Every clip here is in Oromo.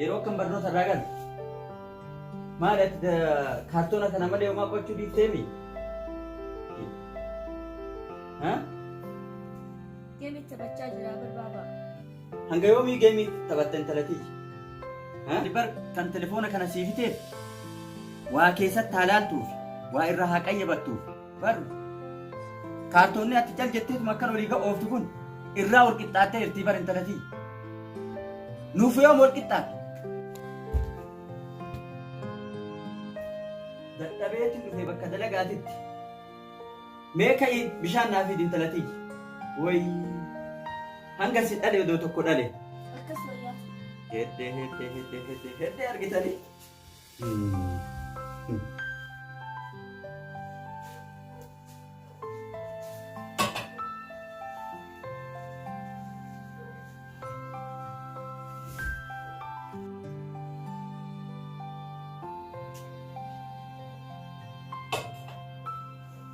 Yeroo akkan barnoota irraa galu maali ati da- kaartoona kana malee homaa qochuu dhiifteemi? Ha? Geemii taphachaa jira barbaaba. Hanga yoomii geemii taphatta intalatiiji? Ha? Bar kan telefoona kana siifiteef waa keessatti haa laaltuuf waa irraa haa qayyabattuuf Bar kaartoonni ati cal jetteetuma akkan olii ga'ooftu kun irraa wal qixxaattee jirtii bar intalatii. Nuuf yoom wal qixxaatte? Dadhabeetiin dhufee bakka dalagaatitti. Mee ka'ii bishaan naa fiidi intalatii. Woy hanga si dhale odoo tokko dhale. Akkas wayyaa. Heddee heddee heddee heddee heddee argitanii.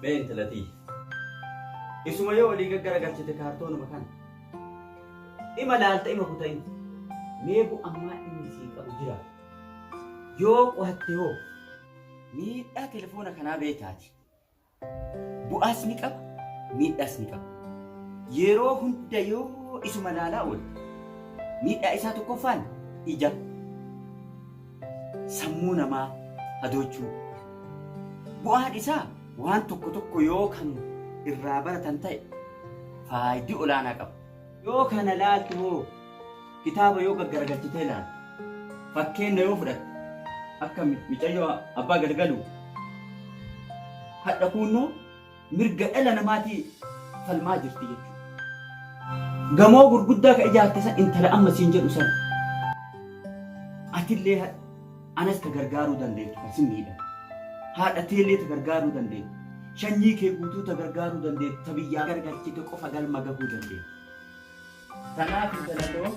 Mee intalatii. Isuma yoo olii gaggara galchite kaartoonuma kana. Ima laalta ima kutain. Mee bu ammaa inni sii qabu jira. Yoo qo'atte hoo miidhaa telefoona kanaa beektaati. Bu'aas ni qaba, miidhaas ni qaba. Yeroo hunda yoo isuma ilaalaa oolte miidhaa isaa tokkoffaan ija, sammuu namaa hadoochuu. Bu'aan isaa waan tokko tokko yoo kan irraa baratan ta'e faayidii olaanaa qaba. Yoo kana laaltu hoo? Kitaaba yoo gaggaragalchitee laaltu, fakkeenna yoo fudhatte, akka mi- micayyoo abbaa galgaluu, hadha kuunnoo mirga dhala namaatii falmaa jirti jechuudha. Gamoo gurguddaa ka ijaarte san intala amma siin jedhu san. Atillee hadha Anas ta gargaaruu dandeettu kan si miidhan. Haadha teellee ta gargaaruu dandeettu. Shanyii kee guutuu ta gargaaruu dandeettu ta biyyaa gargalchite qofa galma gahuu dandeetta. Tanaaf intala too.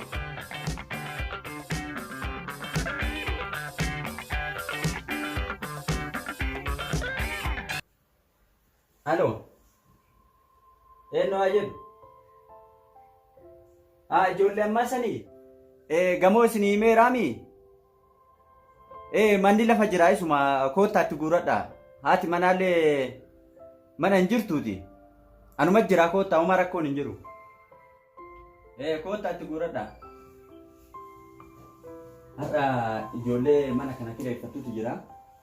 Aloo. Eenyu haa jedhu? Haa ijoollee ammaa sanii? Ee gamoo isin himeeraami? Ee manni lafa jira isuma koottaatti guuradha. Haati manaallee mana hin jirtuuti. Anuma jira koottaa homaa rakkoon hin jiru. Ee koottaatti guuradha. Har'a ijoollee mana kana kireeffattutu jira.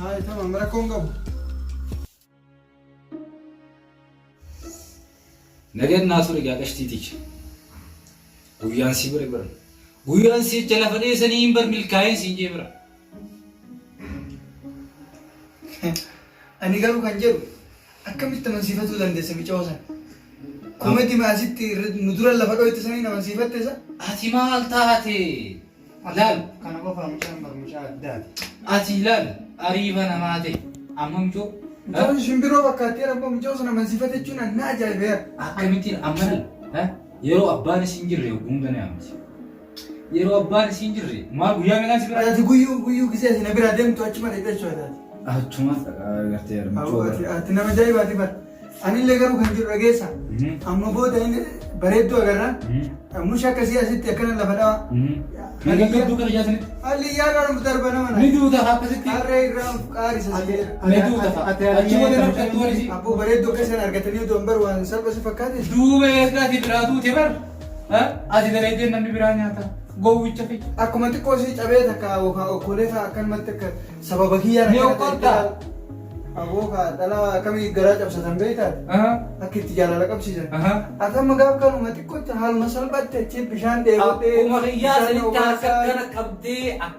Hai, tamam rakkoo hin qabu. Nagan naa ture gaa qashtii ticha. Guyyaan sii bare bara. Guyyaan sii jecha lafa dheessanii hin bar milkaa'een siin jee bara. Ani garuu kan jedhu Akkamitti amansiifatuu dandeessa micoo san? Komedi ma asitti nu dura lafa dhoyte saniin amansiifatte sa? Ati maal taate? Laal. Kana qofaa mucaan bar mucaa addaati. Ati laal ariiba namaa ta'e. Amma micoo. Mucaan shimbiroo fakkaattee rabbo mucoo san amansiifate jechuun an na ajaa'ibeera. Akkamittiin amma laal. Yeroo abbaan isin jirre hunda ni amansiifata. Yeroo abbaan isiin jirre maal guyyaa meeqaan si biraa? Ati guyyuu guyyuu gisee si na biraa deemtu achuma dhaqxee jechuudha taate. Achuma gartee Hawwa armachuu. ati ati nama ajaa'ibaati bar. Anillee garuu kan jiru dhageessa. Amma booda inni bareedduu agarra. Musha akkasii asitti akkana lafa dhawa. Kan gaggabduu kana jaatanitti. Halli yaadaan of darba nama na. Ni duuta akkasitti. Harree irraa of qaarisa si jedha. Ni duuta. Achi booda nama dhattu waan isiin. Abboo bareedduu akka isaan argatanii odoo hin bar waan salphasi fakkaate. Duuba eessaa si biraa duute bar. Ati dalaydee namni biraa nyaata. Gowwicha fi akkuma xiqqoo si cabee takka yookaan okkolee isaa akkanumatti akka sababa kiyyaan Ni okkolta? Aboo kaa dhala akkamii garaa cabsatan beektaa? Akka itti jaalala qabsiisan. Ati amma gaaf kanuma xiqqootti haaluma salphaatti achi bishaan dheebotee. Akkuma kiyyaa bishaan sanitti akka obaasaan- kana qabdee akka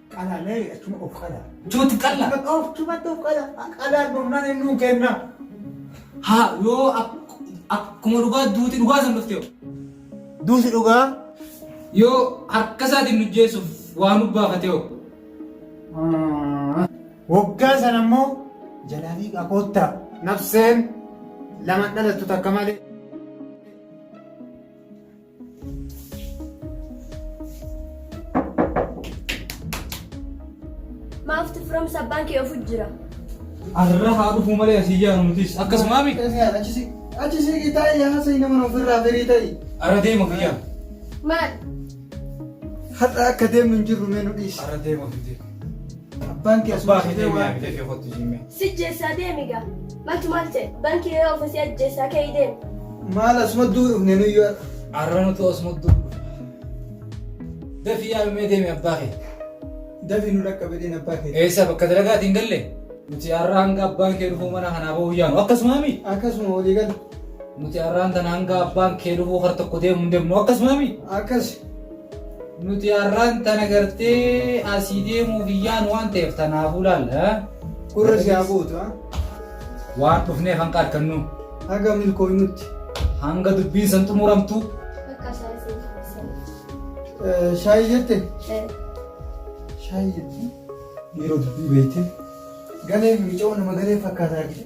Qalaa mee achuma of qalaa. Jooti qalla. Of chumatti of qalaa. Qalaa dhumnaan inni nuu kenna. Haa yoo ak- akkuma dhugaa duuti dhugaa san dhufte hoo? Duuti dhugaa. yoo harka isaatiin nu jeessuuf waa nu baafate hoo? Waggaa sana immoo jalaalii qakoottaa. Nafseen lama dhalattu takka malee. Maaf tuframsa abbaan kee ofu jira. Arra haa dhufuu malee asii jaaru nutis akkasumaa miti. Achisi gitaa yaasa nama nuuf irraa firii ta'i. Arra deema fiyyaa. Maal? Har'a akka deemnu hin jirru mee nu dhiisi. Arra deema fiyyaa. Abbaan kee asuma Abbaa kee dhufee deemee waan abidda kee kottu jimmee. Sijjeessaa deemi gaa. Maltu maal ta'e? Banki yeroo ofu si ajjeessaa ka'ii deemi. Maal asuma duu dhufne nuyyuu har'a. Arranutu asuma duu dhufe. Dafii yaa mee deemi abbaa kee. Dafii nu dhaqqabe deemi abbaa kee. Eessa bakka dalagaatiin galle? Nuti har'a hanga abbaan kee dhufuu mana kanaa bahuu yaanu akkasuma mii? Akkasuma walii gala. Nuti har'aan tana hanga abbaan kee dhufuu kar tokko deemu hin deemnu akkasuma mii? Akkas. Nuti har'aan tana gartee asii deemuuf hin yaanu waan ta'eef tanaafuu laalla. Gurra si haa gootu. ah. Waan dhufneef hanqa arkannu. Haga milkooynutti. Hanga dubbiin san xumuramtu. Bakka isaa isin taasisan. Eh, Shaayi jette? Shaayi jette? Dhiiroo dubbii beekte. Galee fi mica'oo nama galee fakkaataa jira.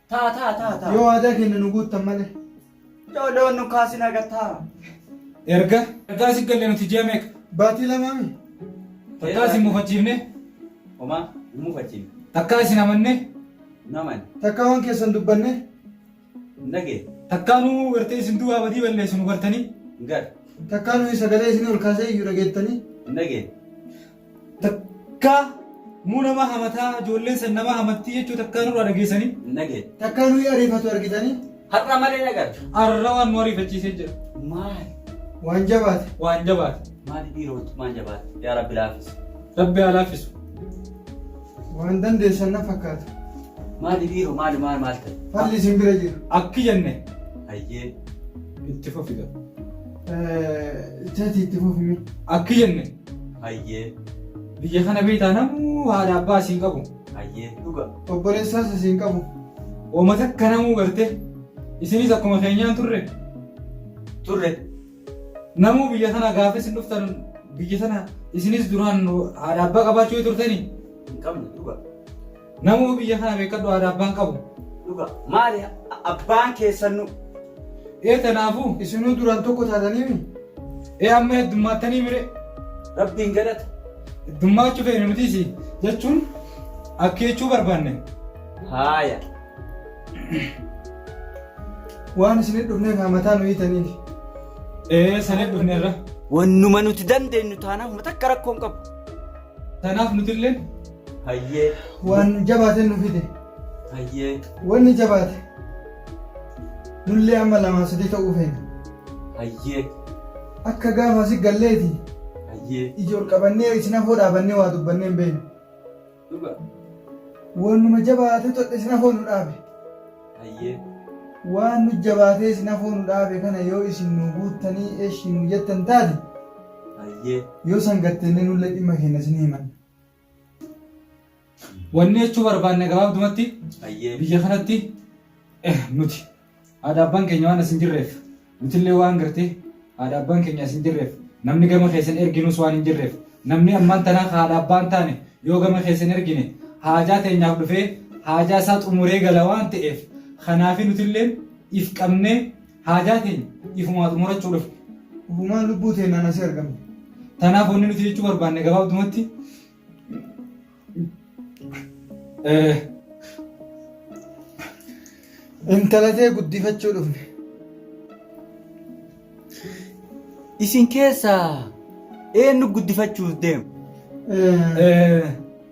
Ta'a ta'a ta'a ta'a. Yoo waadaa keenya nu guuttan malee. Yoo loon nu kaasin haga ta'a. Erga. Ergaa si galle nuti ji'a meeqa? Baatii lamaa mi? Takkaa isin mufachiifne? Homaa hin mufachiifne. Takkaa isin amanne? Hin amanne. Takkaa waan keessan dubbanne? Hin dhageenye. Takkaa nu gartee isin duwwaa badii balleessu nu gartanii? Hin garre. Takkaa nuyi sagalee isinii ol kaasee iyyu dhageettanii? Hin dhageenye. Takkaa muu nama hamataa ijoolleen san nama hamattii jechuu takkaa nurraa dhageessanii. hin dhageenye. Takkaa nuyi ariifatu argitanii. Har'a malee hin agarre. Arra waan nu ariifachiisee jira. Maali? Waan jabaate. Waan jabaate. Maali dhiira wantummaan jabaate? Yaa Rabbi laaffisu. Rabbi haa laaffisu. Waan dandeessan na fakkaata. Maali dhiiro maali maal maal ta'e? Falli isin bira jira. Akki jenne Hayyee. itti fufiga. Eh, Chati itti fufimi. Akki jenne. Hayyee. Biyya kana beektaa namuu haadha abbaa asiin qabu. Hayyee. Dhuga. Obboleessaas asiin qabu. Ooma takka namuu garte. Isinis akkuma keenyaan turre. Turre. Namuu biyya kana gaafa isin dhuftan biyya sana isinis duraan haadha abbaa qabaachuu turtanii? Hin qabne dhuga. Namuu biyya kana beekkadhu haadha abbaan qabu. Dhuga maali abbaan keessannu. Ee tanaafu isinuu duraan tokko taataniimi. Ee amma heddummaatanii mire. Rabbiin galata. Heddummaachuu feene nutiisi jechuun akkeechuu barbaanne. Haaya. Waan isinit dhufneef hamataa nu hiitaniif. Ee sanif dhufneerra. Wannuma nuti dandeenyu taanaan takka rakkoon qabu. Tanaaf nutilleen hayyee waan jabaate nu fide hayyee wanni jabaate nullee amma lamaa sadii ta'uu feena hayyee akka gaafa asi galleeti hayyee iji ol qabannee isin afoo dhaabannee waa dubbannee hin beeknu dhuga waanuma jabaate todhe isin afoo nu dhaabe hayyee waan nu jabaatee isin afoo nu dhaabe kana yoo isin nu guuttanii eshi nu jettan taate Hayyee. Yoo san gattenne nullee dhimma keenya isin himanna. Wanni jechuu barbaanne gabaabdumatti Hayyee. biyya kanatti eh, nuti haadha abbaan keenya waan asin jirreef nutillee waan gartee haadha abbaan keenya asin jirreef namni gama keessan erginus waan hin jirreef namni ammaan tanaa ka haadha abbaan taane yoo gama keessan ergine haajaa teenyaaf dhufee haajaa isaa xumuree gala waan ta'eef kanaafi nutilleen if qabnee Haajaa teenya ifumaa xumurachuu dhufne. Ufumaan lubbuu teennaan asii argamne. Tanaaf wanni nuti jechuu barbaanne gabaabdumatti eh, Intala tee guddifachuu dhufne. Isin keessaa eenyu guddifachuuf deema? Eh, eh,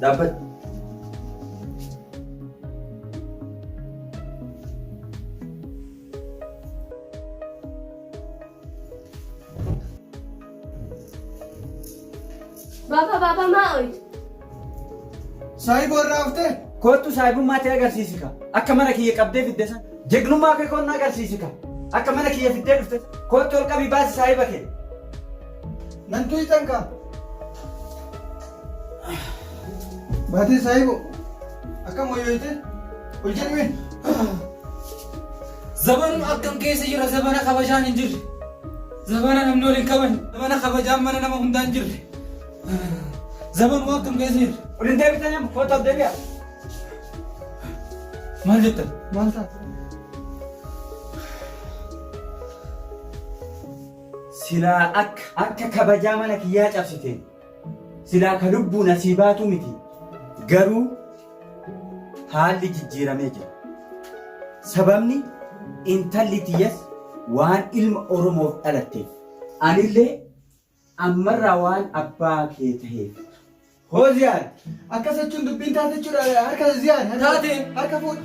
Dhaabbata. Baba, baba, maal? Saayiboo irraa haftee? Koottu saayibummaa ta'e agarsiisi ka. Akka mana kiyya qabdee fidde san. Jegnummaa kee koonna agarsiisi ka. Akka mana kiyya fiddee dhufte san. Koottu ol qabii baasi saayiba kee. Nan tuyxan ka. Baatee saayiboo. Akkam wayyooytee? Ol jedhmee. Zaban akkam keessa jira zabana kabajaan hin jirre. Zabana namni wal hin kabajne. Zabana kabajaan mana nama hundaa hin jirre. Zaman waan akkam keessa jirtu? Ol hin deebitan amma kootaaf deebi'a. Maal jettan? Maal taate? Silaa akka akka kabajaa mana kiyyaa cabsite silaa ka lubbuun asii baatu miti garuu haalli jijjiiramee jira. Sababni intalli tiyyaas waan ilma Oromoof dhalatteef anillee Ammarraa waan abbaa kee taheef. Hoo Ziyaad! Akkas jechuun dubbiin taate jechuudha harka Ziyaad. harka- Taate. Harka fuudh.